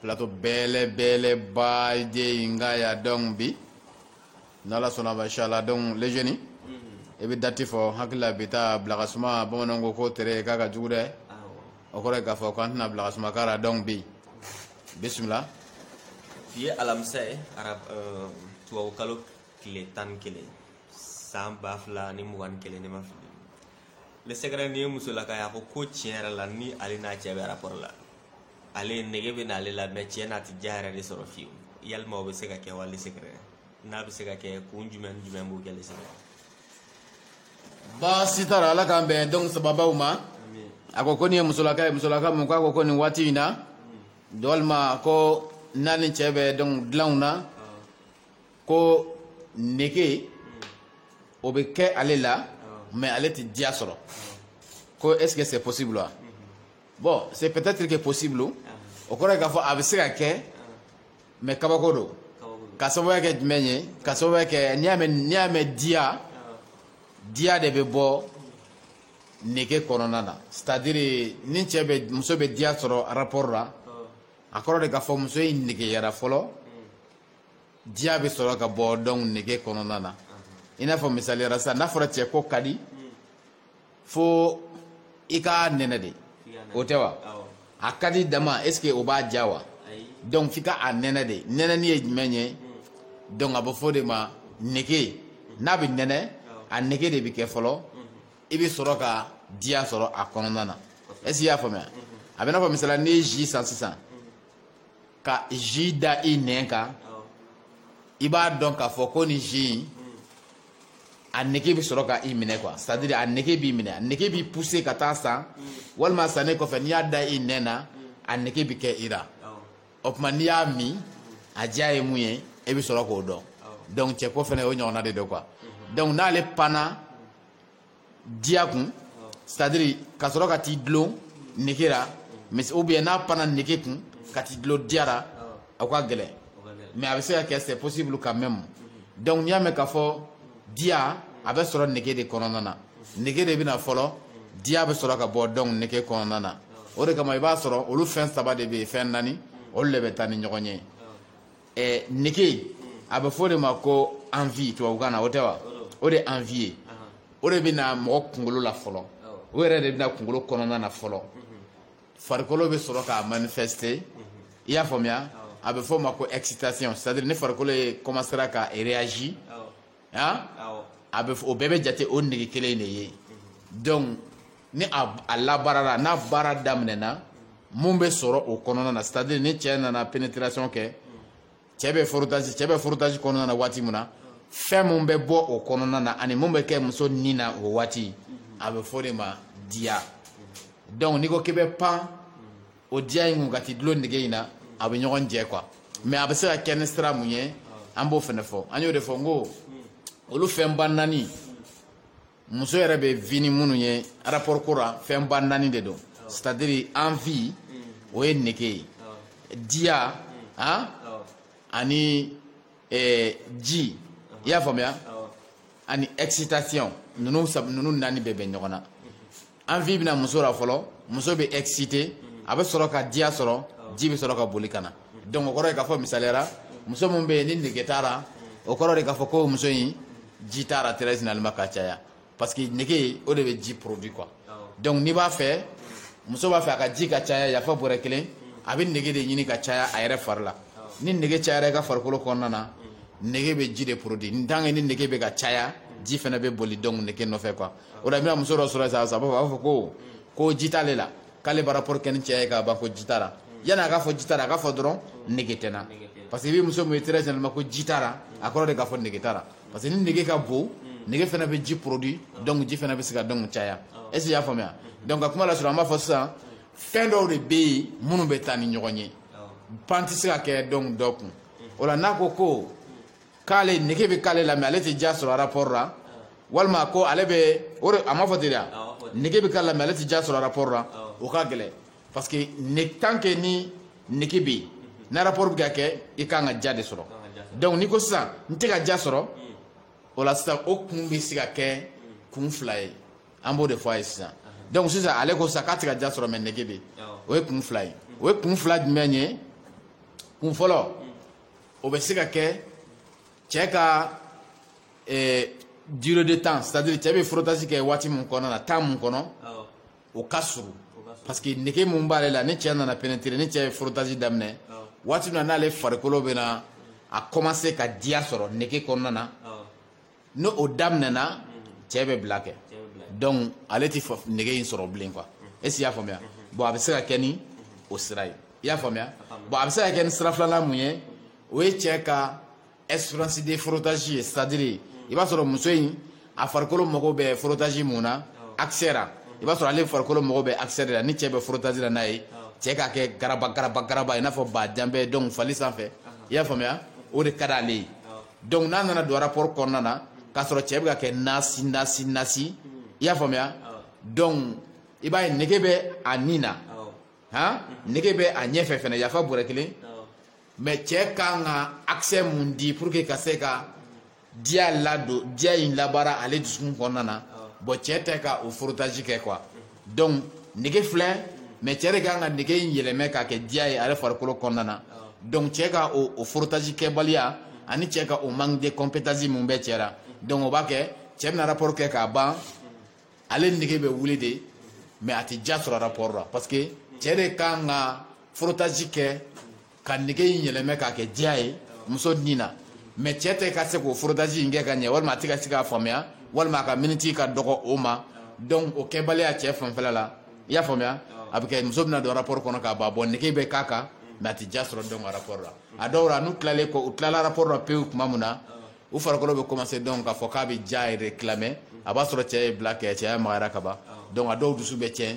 plateau belebeleba de in kan yan donc bi n'ala sɔnna ma inshallah donc les jeunes i bɛ dati fɔ hakili la bi ta bila ka suma bamananw ko k'o tere k'a ka jugu dɛ o kɔrɔ ye k'a fɔ k'an tɛna bila ka suma k'a la donc bi bisimila bi ye alamisa ye arab euh, tubabukalo tile tan ni kelen san ba fila ni mugan ni kelen ne ma fili le secret nin ye musolaka ye a ko ko tiɲɛ yɛrɛ la ni ale n'a cɛ bɛ rapport la ale nege bɛ n'ale la mais tiɲɛ na a tɛ diya yɛrɛ de sɔrɔ fiyewu yalima o bɛ se ka kɛ wa le secret n'a bɛ se ka kɛ kun jumɛn ni jumɛn b'o kɛ le secret baasi t'a la ala k'an bɛn donc sababaw ma a ko ko nin ye musolaka ye musolaka mun k'a ko ko nin waati in na walima ko n'a ni cɛ bɛ donc dilanw na ko nege o bɛ kɛ ale la mais ale tɛ diya sɔrɔ ko est ce que c'est possible wa bon c'est peut-être que possible o kɔrɔ ye k'a fɔ a bɛ se ka kɛ mais kabako don ka sababuya kɛ jumɛn ye ka sababuya kɛ n'i y'a mɛn diya diya de bɛ bɔ nege kɔnɔna na c'est à dire ni cɛ bɛ muso bɛ diya sɔrɔ rapport la a kɔrɔ de k'a fɔ muso in negeyara fɔlɔ diya bɛ sɔrɔ ka bɔ donc nege kɔnɔna na i n'a fɔ misali la sisan n'a fɔra cɛko ka di fo i ka nɛnɛ de o tɛ wa a ka di dama est ce que o b'a diya wa donc f'i ka a nɛnɛ de nɛnɛni ye jumɛn ye hmm. donc a bɛ fɔ o de ma nege hmm. n'a bɛ nɛnɛ a nege de bɛ kɛ fɔlɔ hmm. i bɛ sɔrɔ ka diya sɔrɔ a kɔnɔna na est ce que i y'a faamuya a bɛ n'a fɔ misali la n'i ye ji san sisan ka ji da i nɛn kan i b'a dɔn k'a fɔ ko ni ji in a nege bɛ sɔrɔ ka i minɛ quoi c'est à dire a nege b'i minɛ a nege b'i pousser ka taa a san walima sannen kɔfɛ n'i y'a da i nɛn na a nege bɛ kɛ i la o tuma n'i y'a min a diya ye mun ye e bɛ sɔrɔ k'o dɔn donc cɛko fana o ɲɔgɔnna de don quoi donc n'ale panna diya kun c'est à dire ka sɔrɔ ka t'i dulon nege la mais ou bien n'a panna nege kun ka t'i dulon diya la a ko ka gɛlɛn mais a bɛ se ka kɛ c'est possible quand même donc n'i y'a mɛn k'a fɔ diya a bɛ sɔrɔ nege de kɔnɔna na nege de bɛ na fɔlɔ diya bɛ sɔrɔ ka bɔ donc nege kɔnɔna na o de kama i b'a sɔrɔ olu fɛn saba de bɛ fɛn naani olu de bɛ taa ni ɲɔgɔn ye eh, nege a bɛ fɔ o de ma ko envie tubabukan na o tɛ wa o de envie ye o de bɛ na mɔgɔ kunkolo la fɔlɔ o yɛrɛ de bɛ na kunkolo kɔnɔna na fɔlɔ farikolo bɛ sɔrɔ ka manifester i y'a faamuya a bɛ fɔ o ma ko excitation c'est à dire ni farikolo ye commencera ka réagir a bɛ o bɛɛ bɛ jate o nege kelen de ye donc ni a labaarala n'a baara daminɛna min bɛ sɔrɔ o kɔnɔna na c'est à dire ni cɛ nana pénétration kɛ cɛ bɛ frottage kɔnɔna na waati min na fɛn min bɛ bɔ o kɔnɔna na ani min bɛ kɛ muso ni na o waati a bɛ fɔ o de ma diya donc n'i ko k'i bɛ pan o diya in kun ka t'i dulon nege in na a bɛ ɲɔgɔn jɛ quoi mais a bɛ se ka kɛ ni sira mun ye an b'o fana fɔ an y'o de fɔ n ko olu fɛnba naani muso yɛrɛ bɛ vi ni minnu ye rapport ko la fɛnba naani de don c'est à dire envie o ye nege ye diya han ani eh, ji i y'a faamuya ani excitation ninnu sab ninnu naani bɛɛ bɛ ɲɔgɔn na envie bɛna muso la fɔlɔ muso bɛ excité a bɛ sɔrɔ ka diya sɔrɔ ji bɛ sɔrɔ ka boli ka na donc o kɔrɔ ye k'a fɔ misaliya ra muso min bɛ yen ni nege t'a la o kɔrɔ de k'a fɔ ko muso in ji t'a la très généralement ka caya parce que nege o de bɛ ji produit quoi donc n'i b'a fɛ muso b'a fɛ a ka ji ka caya yafa bɔrɛ kelen a bɛ nege de ɲini ka caya a yɛrɛ fari la ni nege cayara i ka farikolo kɔnɔna na nege bɛ ji de produit ni tant que ni nege bɛ ka caya ji fana bɛ boli donc nege nɔfɛ quoi o la i bɛna muso dɔ sɔrɔ sisan a b'a fɔ a b'a fɔ ko ko ji t'ale la k'ale bɛ rapport kɛ ni cɛ ye k'a ban ko ji t'a la yanni a k'a fɔ ji t'a la a k'a fɔ dɔrɔn nege tɛ n na parce que i bɛ muso min ye très généralement ko ji t'a la a kɔrɔ de k'a fɔ nege t'a la parce que ni nege ka bon nege fana bɛ ji produit donc ji fana bɛ se ka donc caya est ce que i y'a faamuya donc ka kuma lasɔrɔ an b'a fɔ sisan fɛn dɔw de bɛ yen minnu bɛ taa ni ɲɔgɔn ye pan tɛ se ka kɛ donc dɔ kun o la n'a ko ko k'ale nege bɛ k'ale la mais ale tɛ diya sɔrɔ rapport la walima ko ale bɛ o de a m'a fɔ ten de wa nege bɛ k'ale la mais ale tɛ diya sɔrɔ rapport la o ka gɛlɛn Parce que tant que ni nege bɛ yen, ni rapport bɛ ka kɛ i ka kan ka diya de sɔrɔ donc n'i ko sisan n tɛ ka diya sɔrɔ, o la sisan o kun bɛ se ka kɛ kun fila ye, an b'o de fɔ a ye sisan donc sisan ale ko sisan k'a tɛ ka diya sɔrɔ mais nege bɛ yen, o ye kun fila ye, o ye kun fila jumɛn ye? Kun fɔlɔ o bɛ se ka kɛ cɛ ka durée de temps c'est à dire cɛ bɛ frottage kɛ waati min kɔnɔna na temps min kɔnɔ o ka surun parce que nege mun b'ale la ni cɛ nana pénétrer ni cɛ ye frottage daminɛ waati min na n'ale farikolo bɛna a commencer ka diya sɔrɔ nege kɔnɔna na ni o daminɛna cɛ bɛ bila kɛ donc ale tɛ nege in sɔrɔ bilen quoi est ce que i y'a faamuya bon a bɛ se ka kɛ ni o sira ye i y'a faamuya bon a bɛ se ka kɛ ni sira filanan mun ye o ye cɛ ka espérance de frottage ye c'est à dire i b'a sɔrɔ muso in a farikolo mago bɛ frottage mun na accès ra i b'a sɔrɔ ale farikolo mago bɛ accès de la ni cɛ bɛ frottage la n'a ye cɛ k'a kɛ garaba garaba garaba i n'a fɔ ba janbɛ donc fali sanfɛ i y'a faamuya o de ka d'ale ye donc n'a nana don rapport kɔnɔna na k'a sɔrɔ cɛ bɛ ka kɛ nasi nasi nasi i y'a faamuya donc i b'a ye nege bɛ a nin na han nege bɛ a ɲɛfɛ fɛnɛ yafa bɔrɛ kelen mais cɛ ka kan ka accès mun di pour que ka se ka diya ladon diya in labaara ale dusukun kɔnɔna na bon cɛ tɛ ka o frottage kɛ quoi donc nege filɛ mais cɛ de ka kan ka nege in yɛlɛmɛ k'a kɛ diya ye ale farikolo kɔnɔna na donc cɛ ka o frottage kɛbaliya ani cɛ ka o manque de compétence mun bɛ cɛ la donc o b'a kɛ cɛ bɛna rapport kɛ k'a ban ale nege bɛ wuli de mais a tɛ diya sɔrɔ rapport la parce que cɛ de ka kan ka frottage kɛ ka nege in yɛlɛmɛ k'a kɛ diya ye muso ni na mais cɛ tɛ ka se k'o frottage in kɛ ka ɲɛ walima a tɛ ka se k'a faamuya walima a ka miniti ka dɔgɔ o ma donc o kɛbaliya cɛ fanfɛla la i y'a faamuya a bɛ kɛ muso bɛna don rapport kɔnɔ k'a ban bon nege bɛ k'a kan mais a tɛ diya sɔrɔ donc rapport la a dɔw la n'u tilalen kɔ u tilala rapport la pewu tuma min na u farikolo bɛ commencer donc k'a fɔ k'a bɛ diya yɛrɛ réclamer a b'a sɔrɔ cɛ ye bila kɛ cɛya magayara ka ban donc a dɔw dusu bɛ tiɲɛ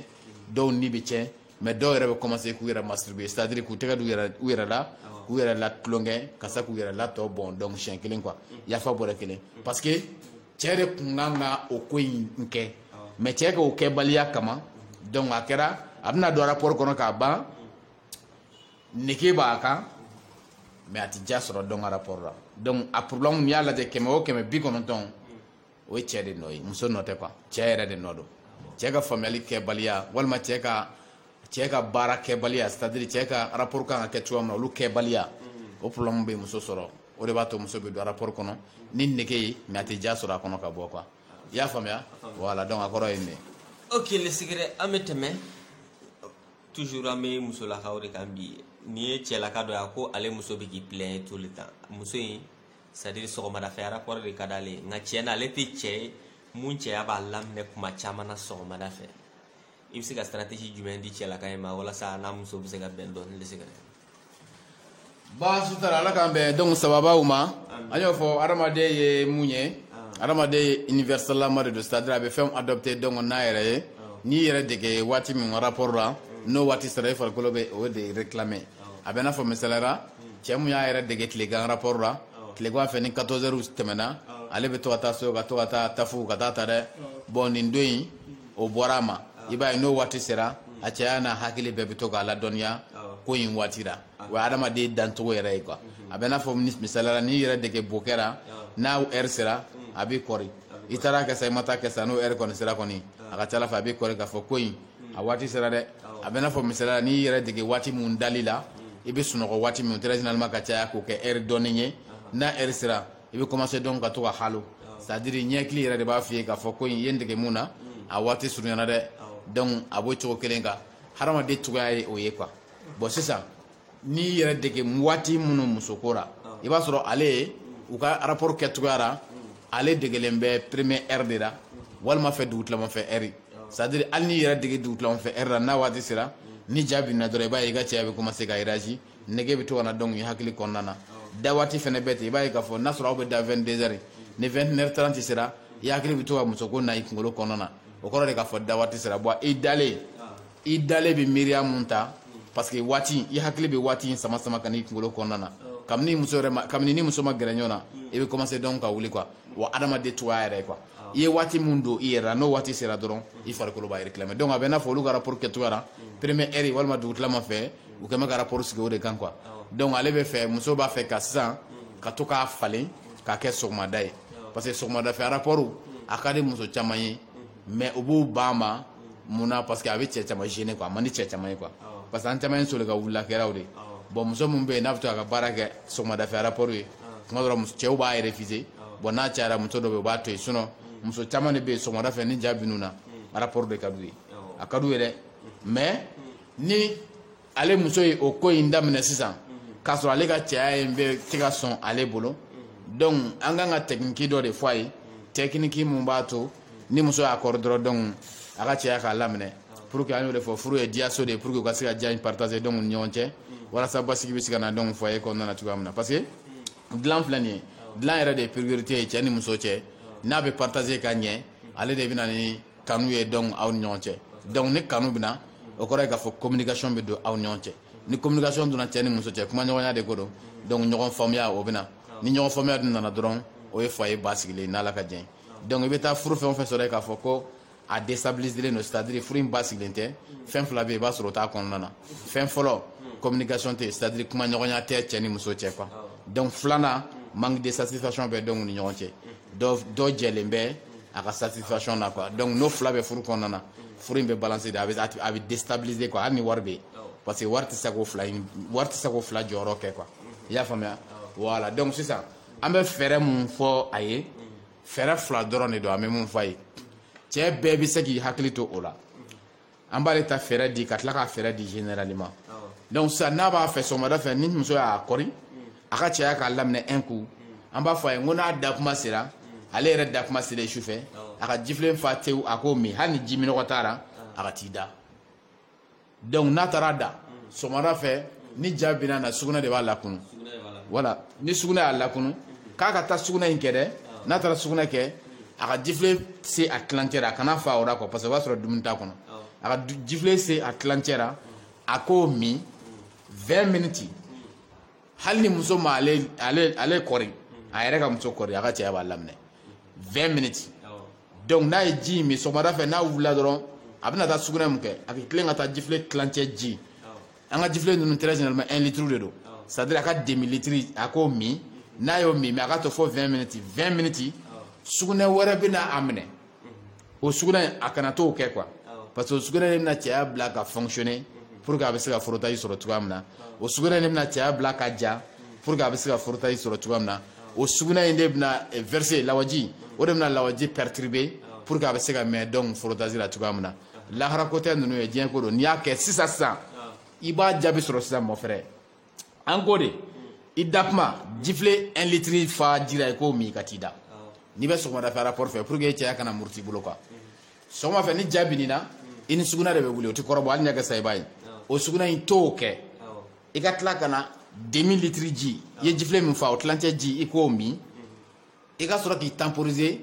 dɔw ni bɛ tiɲɛ mais dɔw yɛrɛ bɛ commencer k'u yɛrɛ masturber c'est à dire k'u tɛgɛ d'u yɛrɛ u yɛrɛ la k'u yɛrɛ la tulonkɛ ka se k'u yɛrɛ la tɔ bɔn donc siɲɛ kelen quoi yafa bɔrɛ kelen parce que cɛ de tun kan ka o ko in kɛ mais cɛ ka o kɛbaliya kama donc a kɛra a bɛna don rapport kɔnɔ k'a ban nege b'a kan mais a tɛ diya sɔrɔ donc a rapport la donc a problème n'i y'a lajɛ kɛmɛ o kɛmɛ bi kɔnɔntɔn o ye cɛ de nɔ ye muso nɔ tɛ quoi cɛ yɛrɛ de nɔ don cɛ ka faamuyali kɛbaliya walima cɛ ka cɛ ka baara kɛbaliya c'est à dire cɛ ka rapport kan ka kɛ cogoya min na olu kɛbaliya o problème bɛ muso sɔrɔ o de b'a to muso bɛ don rapport kɔnɔ ni nege ye mais a tɛ diya sɔrɔ a kɔnɔ ka bɔ quoi i y'a faamuya voilà donc a kɔrɔ ye nin ye ok le secret an bɛ tɛmɛ toujours an bɛ musolakaw de kan bi nin ye cɛlaka dɔ ye a ko ale muso bɛ k'i plaint tout le temps muso in c'est à dire sɔgɔmadafɛ rapport de ka d'ale ye nka tiɲɛ na ale tɛ cɛ ye mun cɛya b'a laminɛ kuma caman na sɔgɔmada fɛ i bɛ se ka stratégie jumɛn di cɛlaka in ma walasa a n'a muso bɛ se ka bɛn dɔɔni le secret baasi t'a la ala k'an bɛn donc sababaw ma an y'o fɔ adamaden ye mun ye adamaden ye universalama de don c'est à dire a bɛ fɛnw adopter donc n'a yɛrɛ ye n'i yɛrɛ dege waati min rapport la n'o waati sera i farikolo bɛ o de réclamer a bɛ n'a fɔ misali ra cɛ mun y'a yɛrɛ dege tilegan rapport la tilegan fɛ ni 14 heures tɛmɛna ale bɛ to ka taa so ka to ka taa tafu ka taa ta dɛ bon nin don in o bɔra a ma i b'a ye n'o waati sera a cɛya n'a hakili bɛɛ bɛ to k'a ladɔnniya ko in waati la o ye adamaden dancogo yɛrɛ ye quoi a bɛ n'a fɔ misaliya la n'i yɛrɛ dege bokɛ ra n'a heure sera a b'i kɔri i taara kɛ sa i ma taa kɛ sa n'o heure kɔni sera kɔni a ka ca ala fɛ a b'i kɔri k'a fɔ ko in a waati sera dɛ a bɛ n'a fɔ misaliya la n'i yɛrɛ dege waati min dali la i bɛ sunɔgɔ waati min très généralement ka caya k'o kɛ heure dɔɔnin ye n'a heure sera i bɛ commencer donc ka to ka halo c'est à dire ɲɛkili yɛrɛ de b'a f'i ye k'a fɔ ko i ye n dege mun na a waati surunyana dɛ donc a b'o cogo kelen kan hadamaden cogoya ye o ye quoi bon sisan n'i yɛrɛ dege waati minnu musoko la i b'a sɔrɔ ale u ka rapport kɛcogoya la ale degelen bɛ première heure de la walima fɛ dugutilama fɛ heure c'est à dire hali n'i yɛrɛ dege dugutilama fɛ heure la n'a waati sera ni ja binna dɔrɔn i b'a ye i ka cɛya bɛ commencer ka réagir nege bɛ to ka na donc i hakili kɔnɔna na da waati fana bɛ ten i b'a ye k'a fɔ n'a sɔrɔ aw bɛ da vingt-deux heures ni vingt et une heures trente sera i hakili bɛ to ka musoko na i kunkolo kɔnɔna na o kɔrɔ de k'a fɔ da waati sera bon i dalen i dalen bɛ miiriya min ta parce que waati i hakili bɛ waati in sama sama ka n'i kunkolo kɔnɔna na kabini muso kabini ni muso ma gɛrɛ ɲɔgɔn na i bɛ commencer donc ka wuli quoi wa adamaden cogo yɛrɛ ye quoi i ye waati min don i yɛrɛ la n'o waati sera dɔrɔn i farikolo b'a réclamer donc a bɛ n'a fɔ olu ka rapport kɛcogoya la première heure walima dugutilama fɛ u kɛlen bɛ ka rapport sigi o de kan quoi donc ale bɛ fɛ muso b'a fɛ ka sisan ka to k'a falen k'a kɛ sɔgɔmada ye parce que sɔgɔmada fɛ rapport a ka di muso caman ye mais u b'u ban a ma mun na parce que a bɛ cɛ caman gêner quoi a man di cɛ caman ye quoi parce que an caman ye soli ka wulila kɛraw de bon muso min bɛ yen n'a bɛ to a ka baara kɛ sɔgɔmada fɛ rapport ye tuma dɔ la cɛw b'a refuser bon n'a cayara muso dɔ bɛ yen u b'a to yen sinon muso caman de bɛ yen sɔgɔmada fɛ ni ja bin'u na rapport de ka d'u ye a ka d'u ye dɛ mais ni ale muso ye o ko in daminɛ sisan k'a sɔrɔ ale ka cɛya in bɛ tɛ ka sɔn ale bolo donc an kan ka technique dɔ de fɔ a ye technique mun b'a to ni muso y'a kɔrɔ dɔrɔn donc a ka cɛya k'a laminɛ pour que an y'o de fɔ furu ye diyaso de ye pour que u ka se ka diya in partager donc ni ɲɔgɔn cɛ walasa basigi bɛ se ka na donc foyer kɔnɔna na cogoya min na parce que dilan filɛ nin ye dilan yɛrɛ de ye priorité ye cɛ ni muso cɛ n'a bɛ partager ka ɲɛ ale de bɛ na ni kanu ye donc aw ni ɲɔgɔn cɛ donc ni kanu bɛ na o kɔrɔ ye k'a fɔ communication bɛ don aw ni ɲɔgɔn cɛ ni communication donna cɛ ni muso cɛ kuma ɲɔgɔnya de ko don donc ɲɔgɔn faamuya o bɛ na ni ɲɔgɔn faamuya dun nana dɔrɔn o ye foyer basigilen n'ala ka jɛn donc i bɛ taa furu fɛn o fɛn sɔrɔ yen k'a fɔ ko a déstabiliserlen don c'est à dire furu in basigilen tɛ fɛn fila bɛ yen i b'a sɔrɔ o t'a kɔnɔna na fɛn fɔlɔ communication tɛ c'est à dire kuma ɲɔgɔnya tɛ cɛ ni muso cɛ quoi donc filanan manque de satisfaction bɛ donc u ni ɲɔgɔn cɛ dɔ jɛlen bɛ a ka satisfaction na quoi donc n'o fila bɛ furu kɔnɔna na furu in bɛ balancer de a bɛ a bɛ déstabiliser quoi hali ni wari bɛ yen parce que wari tɛ se k'o fila in wari tɛ se k'o fila jɔyɔrɔ kɛ quoi i y'a faamuya voilà donc sisan an bɛ fɛɛrɛ mun fɔ a ye fɛɛrɛ fila dɔrɔn de don an bɛ mun fɔ a ye cɛ bɛɛ bɛ se k'i hakili to o la an b'ale ta fɛɛrɛ di ka tila ka fɛɛrɛ di généralement donc sisan n'a b'a fɛ sɔgɔmada fɛ ni muso y'a kɔri a ka cɛya k'a laminɛ un coup an b'a fɔ a ye ko n'a da kuma sera ale yɛrɛ da kuma sera su fɛ a ka jifilen fa tewu a k'o min hali ni ji minɔgɔ t'a la a ka t'i da donc n'a taara da sɔgɔmada fɛ ni ja binna na sugunɛ de b'a lakunu voilà ni sugunɛ y'a lakunu k'a ka taa sugunɛ in kɛ dɛ n'a taara sugunɛ kɛ a ka jifilen se a tilancɛ la a kana fa o la quoi parce que o b'a sɔrɔ dumuni t'a kɔnɔ a ka jifilen se a tilancɛ la a k'o min 20 minutes hali ni muso ma ale ale ale kɔri a yɛrɛ ka muso kɔri a ka cɛya b'a laminɛ 20 minutes donc n'a ye ji in min sɔgɔmada fɛ n'a wulila dɔrɔn a bɛna taa sugunɛ mun kɛ a bɛ tilen ka taa jifilen tilancɛ ji an ka jifilen ninnu très généralement 1 litre de don c'est à dire a ka demi litre a k'o min n'a y'o min mais a ka to fo 20 minutes 20 minutes sugunɛ wɛrɛ bɛna a minɛ o sugunɛ a kana t'o kɛ quoi parce que o sugunɛ de bɛna cɛya bila ka fonctionner pour que a bɛ se ka frottage sɔrɔ cogoya min na o sugunɛ de bɛna cɛya bila ka ja pour que a bɛ se ka frottage sɔrɔ cogoya min na o sugunɛ in de bɛna verser lawaji o de bɛna lawaji perturber pour que a bɛ se ka mɛn donc frottage la cogoya min na lahara ko tɛ ninnu ye diɲɛ ko don n'i y'a kɛ sisan sisan i b'a jaabi sɔrɔ sisan mon frère an ko de i da kuma jifilen 1 litre fa ji la i k'o min i ka t'i da n'i bɛ sɔgɔmada fɛ rapport fɛ pour que cɛya kana muruti i bolo quoi sɔgɔma fɛ ni ja binna i ni sugunɛ de bɛ wuli o tɛ kɔrɔbɔ hali n'i y'a kɛ sa i b'a ye o sugunɛ in t'o kɛ i ka tila ka na demi litre ji i ye jifilen min fa o tilancɛ ji i k'o min i ka sɔrɔ k'i temporiser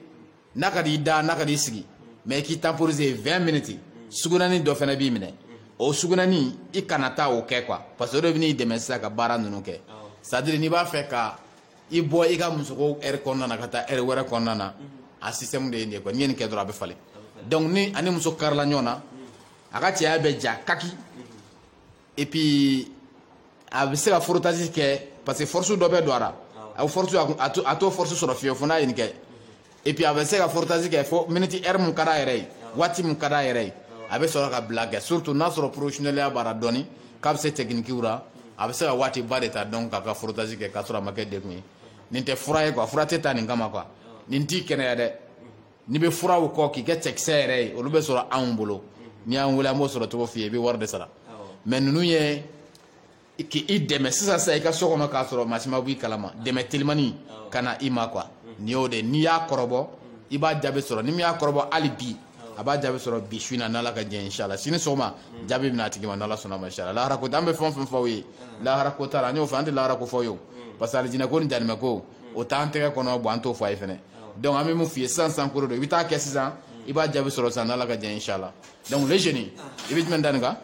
n'a ka d'i da n'a ka d'i sigi mais i k'i temporiser 20 minutes sugunani dɔ fana b'i minɛ o sugunani i kana taa o kɛ quoi parce que o de bɛn'i dɛmɛ sisan ka baara ninnu kɛ c'est à dire n'i b'a fɛ ka i bɔ i ka musoko heure kɔnɔna na ka taa heure wɛrɛ kɔnɔna na a système de ye nin ye quoi n'i ye nin kɛ dɔrɔn a bɛ falen donc n'a ni muso karila ɲɔgɔn na a ka cɛya bɛ ja kaki et puis a bɛ se ka frottage kɛ parce que force dɔ bɛ don a la a bɛ force a t'o force sɔrɔ fiyewu fo n'a ye nin kɛ et puis a bɛ se ka frottage kɛ fo minute heure mun ka d'a yɛrɛ ye waati mun ka d'a yɛrɛ ye a bɛ sɔrɔ ka bila kɛ surtout n'a sɔrɔ professionneliya b'a la dɔɔni k'a bɛ se techniquew la a bɛ se ka waati ba de ta donc k'a ka frottage kɛ k'a sɔrɔ a ma kɛ degun ye nin tɛ fura ye quoi fura tɛ ta nin kama quoi nin t'i kɛnɛya dɛ n'i bɛ furaw kɔ k'i kɛ cɛkisɛ yɛrɛ ye olu bɛ sɔrɔ anw bolo n'i y'an wele an b'o sɔrɔ cogo f'i ye i bɛ wari de sara mais ninnu ye k'i dɛmɛ sisan sisan i ka so kɔnɔ k'a sɔrɔ maa si ma bɔ i kalama dɛmɛ telimani ka na i ma quoi nin y'o de n'i y'a kɔrɔbɔ i b'a jaabi sɔrɔ ni min y'a kɔrɔbɔ hali bi a b'a jaabi sɔrɔ bi su in na n'ala ka jɛn inshala sini sɔgɔma jaabi bɛ na a tigi ma n'ala sɔnna ma inshala lahara ko an bɛ fɛn o fɛn fɔ aw ye lahara ko t'a la an y'o fɔ an tɛ lahara ko fɔ aw ye o parce que alijinɛ ko ni janimɛ ko o t'an tɛgɛ kɔnɔ bon an t'o fɔ a ye fɛnɛ donc an bɛ min f'i ye sisan sisan ko de don i bɛ taa kɛ sisan i b'a jaabi sɔrɔ sisan n'ala ka jɛn inshallah donc le jeune i bɛ jumɛn da nin kan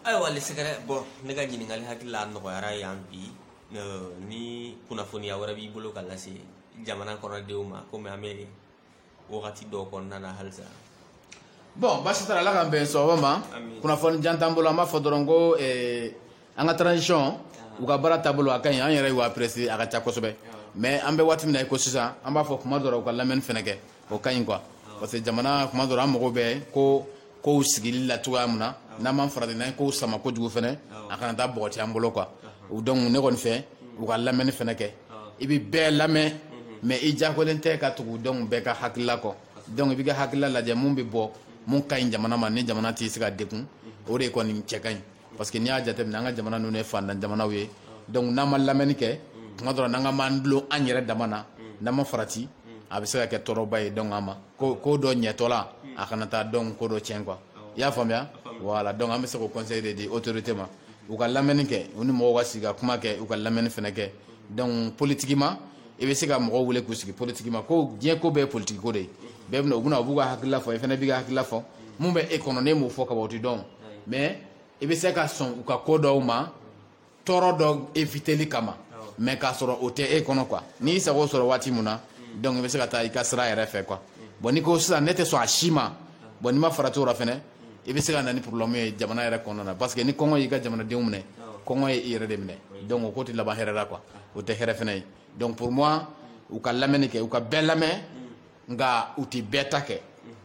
ayiwa le secret bon ne ka ɲininkali hakili la nɔgɔyara yan bi ni kunnafoniya wɛrɛ b'i bolo ka lase jamana kɔnɔdenw ma komi an bɛ wagati dɔw kɔnɔna na halisa bon basi t'a la ala k'an bɛn sɔgɔma ma kunnafoni jan t'an bolo an b'a fɔ dɔrɔn ko an ka transition u ka baara taabolo a ka ɲi an yɛrɛ y'u apprécier a ka ca kosɛbɛ mais an bɛ waati min na i ko sisan an b'a fɔ kuma dɔ la u ka lamɛnni fana kɛ o ka ɲi quoi parce que jamana kuma dɔ la an mago bɛ ko kow sigili la cogoya min na n'an m'an farati n'an ye kow sama kojugu fana a kana taa bɔgɔti an bolo quoi donc ne kɔni fɛ u ka lamɛnni fana kɛ i bɛ bɛɛ lamɛn mais i diyagoyalen tɛ ka tugu donc bɛɛ ka hakilila kɔ donc i b'i ka hakilila lajɛ mun bɛ bɔ mun ka ɲi jamana ma ni jamana tɛ se ka degun o de kɔni cɛ ka ɲi Parce que n'i y'a jate minɛ an ka jamana ninnu ye faantan jamanaw ye donc n'an ma lamɛnni kɛ tuma dɔ la n'an k'an b'an dulon an yɛrɛ dama na n'an ma farati a bɛ se ka kɛ tɔɔrɔba ye donc an mako ko dɔ ɲɛtɔla a kana taa donc ko dɔ tiɲɛ quoi i y'a faamuya voilà donc an bɛ se k'o conseil de di autorité ma u ka lamɛnni kɛ u ni mɔgɔw ka sigi ka kuma kɛ u ka lamɛnni fana kɛ donc politiquement i bɛ se ka mɔgɔw wele k'u sigi politiquement ko diɲɛ ko bɛɛ ye politique ko de ye bɛɛ bɛna u bɛna u b'u ka hakilila fɔ i fana b'i ka hakilila fɔ min bɛ e kɔnɔ n'e m'o fɔ ka ban o tɛ dɔn o mais i bɛ se ka sɔn u ka ko dɔw ma tɔɔrɔ dɔ éviteli kama mais k'a sɔrɔ o tɛ e kɔnɔ quoi n'i sago sɔrɔ waati min na donc i bɛ se ka taa i ka sira yɛrɛ fɛ quoi bon n'i ko sisan ne tɛ sɔn a si ma bon n'i ma farati la fana i bɛ se ka na ni problème ye jamana yɛrɛ kɔnɔna na parce que ni kɔngɔ y'i ka jamanadenw minɛ kɔngɔ ye i yɛrɛ de minɛ donc o ko tɛ laban hɛrɛ la quoi o tɛ hɛrɛ fana ye donc pour moi u ka lamɛnni kɛ u ka bɛɛ lamɛn nka u tɛ bɛɛ ta kɛ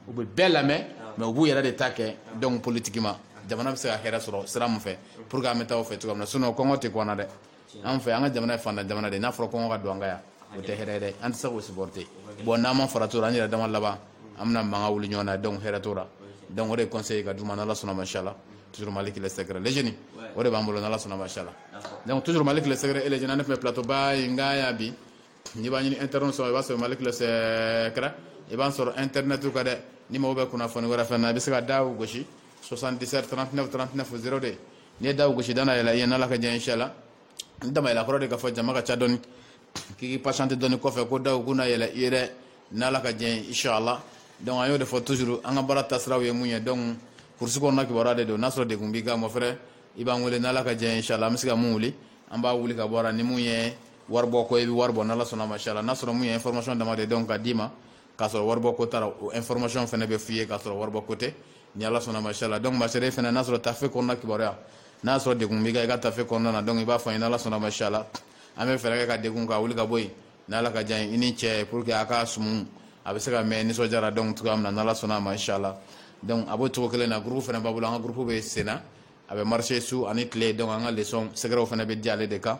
u bɛ bɛɛ lamɛn mais u b'u yɛrɛ de ta kɛ donc politiquement jamana bɛ se ka hɛrɛ sɔrɔ sira min fɛ pour que an bɛ taa o fɛ cogo min na sinon kɔngɔ tɛ kɔnɔna dɛ an fɛ an ka jamana ye faantan jamana de n'a fɔra kɔngɔ ka don an ka yan o tɛ hɛrɛ ye dɛ an tɛ se k'o supporter bon n'an ma farati o la an yɛrɛ dama laban an bɛna mankan wuli ɲɔgɔn na donc hɛrɛ t'o la donc o de conseil ka d'u ma n'ala sɔnna ma inshallah toujours Malick le secret le jeune o de b'an bolo n'ala sɔnna ma inshallah donc toujours Malick le secret et le jeune tun bɛ plateau ba in kan yan bi n'i b'a ɲini internet sɔrɔ i b'a sɔrɔ Malick le secret i b'an sɔrɔ internet kan dɛ ni mago bɛ kunnafoni wɛrɛ fɛn na i bɛ se ka da gosi 77 39 39 02 n'i ye da gosi da na yɛlɛ i ye n'ala ka diɲɛ inshallah ni da ma yɛlɛ kɔrɔ de k'a fɔ jama ka ca dɔɔni k'i patienter dɔɔni kɔfɛ ko daw kuna yɛlɛ i ye dɛ n'ala ka diɲɛ inshallah donc an y'o de fɔ toujours an ka baara taasiraw ye mun ye donc kurusi kɔnɔna kibaruya de don n'a sɔrɔ degun b'i kan mon frère i b'an wele n'ala ka diɲɛ inshallah an bɛ se ka mun wuli an b'a wuli ka bɔ a la ni mun ye waribɔ ko i bɛ wari bɔ n'ala sɔnna ma inshallah n'a sɔrɔ mun ye information dama de don ka d'i ma k'a sɔrɔ waribɔ ko t'a la o information fɛnɛ bɛ f'i ye k'a sɔrɔ waribɔ ko tɛ ni ala sɔnna ma inshallah donc ma sœur fɛnɛ n'a sɔrɔ tafe kɔnɔna kibaruya n'a sɔrɔ degun b'i kan i ka tafe kɔnɔna na donc i b'a fɔ n ye n'ala sɔnna ma inshallah an bɛ fɛɛrɛ kɛ ka degun ka wuli ka bɔ yen n'ala ka diɲɛ i n'i cɛ pour que a ka sumu a bɛ se ka mɛɛn nisɔndiya ra donc cogoya min na n'ala sɔnna ma inshallah donc a b'o cogo kelen na groupe fɛnɛ b'an bolo an ka groupe bɛ sen na a bɛ marcher su ani tile donc an ka leçon secretw fɛnɛ bɛ di ale de kan